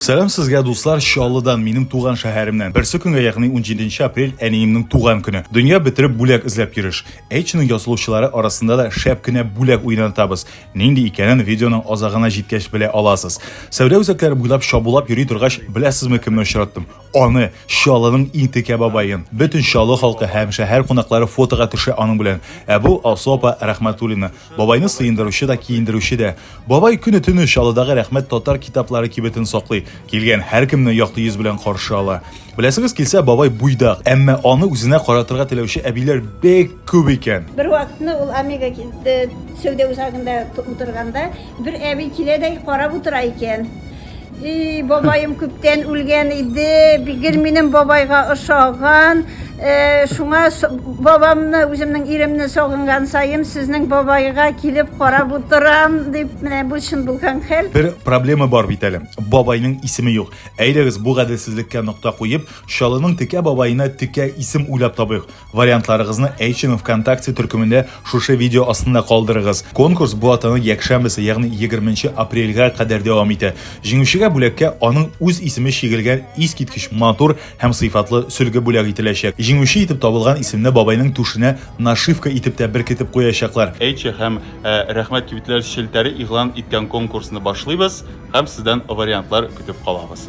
Сәлам сезгә, дуслар, Чаллыдан, минем туган шәһәремнән. Берсе көнгә, ягъни 17 апрель, әниемнең туган көне. Дөнья бетереп бүләк эзләп йөреш. Эйчның язылучылары арасында да шәп кенә бүләк уйнатабыз. Нинди икәнен видеоның азагына җиткәч белә аласыз. Сәүдә үзәкләре буйлап чабулап йөри торгач, беләсезме кемне очраттым? Аны, Чаллының иң текә бабаен. Бөтен Чаллы халкы һәм шәһәр кунаклары фотога төшә аның белән. Ә бу Алсу апа Рәхмәтуллина. Бабайны сыендыручы да, киендерүче дә. Бабай көне-төне Чаллыдагы Рәхмәт татар китаплары кибетен саклый. Килгән һәркемне якты йөз белән каршы ала. Беләсегез килсә, бабай буйдак, әмма аны үзенә каратырга теләүче әбиләр бик күп икән. Бервакытны ул Омега э, сәүдә үзагында утырганда, бер әби килә дә карап утыра икән. И, бабаем күптән үлгән иде, гел минем бабайга ошаган. Э, шуңа с- бабамны, үземнең иремне сагынган саем, сезнең бабайга килеп карап утырам, дип, менә бу чын булган хәл. Бер проблема бар бит әле. Бабайның исеме юк. Әйдәгез, бу гаделсезлеккә нокта куеп, Чаллының Текә бабаена текә исем уйлап табыйк. Вариантларыгызны HM ВКонтакте төркемендә шушы видео астында калдырыгыз. Конкурс бу атаның якшәмбесе, ягъни 20 апрельгә кадәр дәвам итә. Җиңүчегә бүләккә аның үз исеме чигелгән искиткеч матур һәм сыйфатлы сөлге бүләк ителәчәк. Җиңүче итеп табылган исемне бабайның түшенә нашивка итеп тә беркетеп куячаклар. Эйчэ һәм э, Рәхмәт кибетләр челтәре игълан иткән конкурсны башлыйбыз һәм сездән вариантлар көтеп калабыз.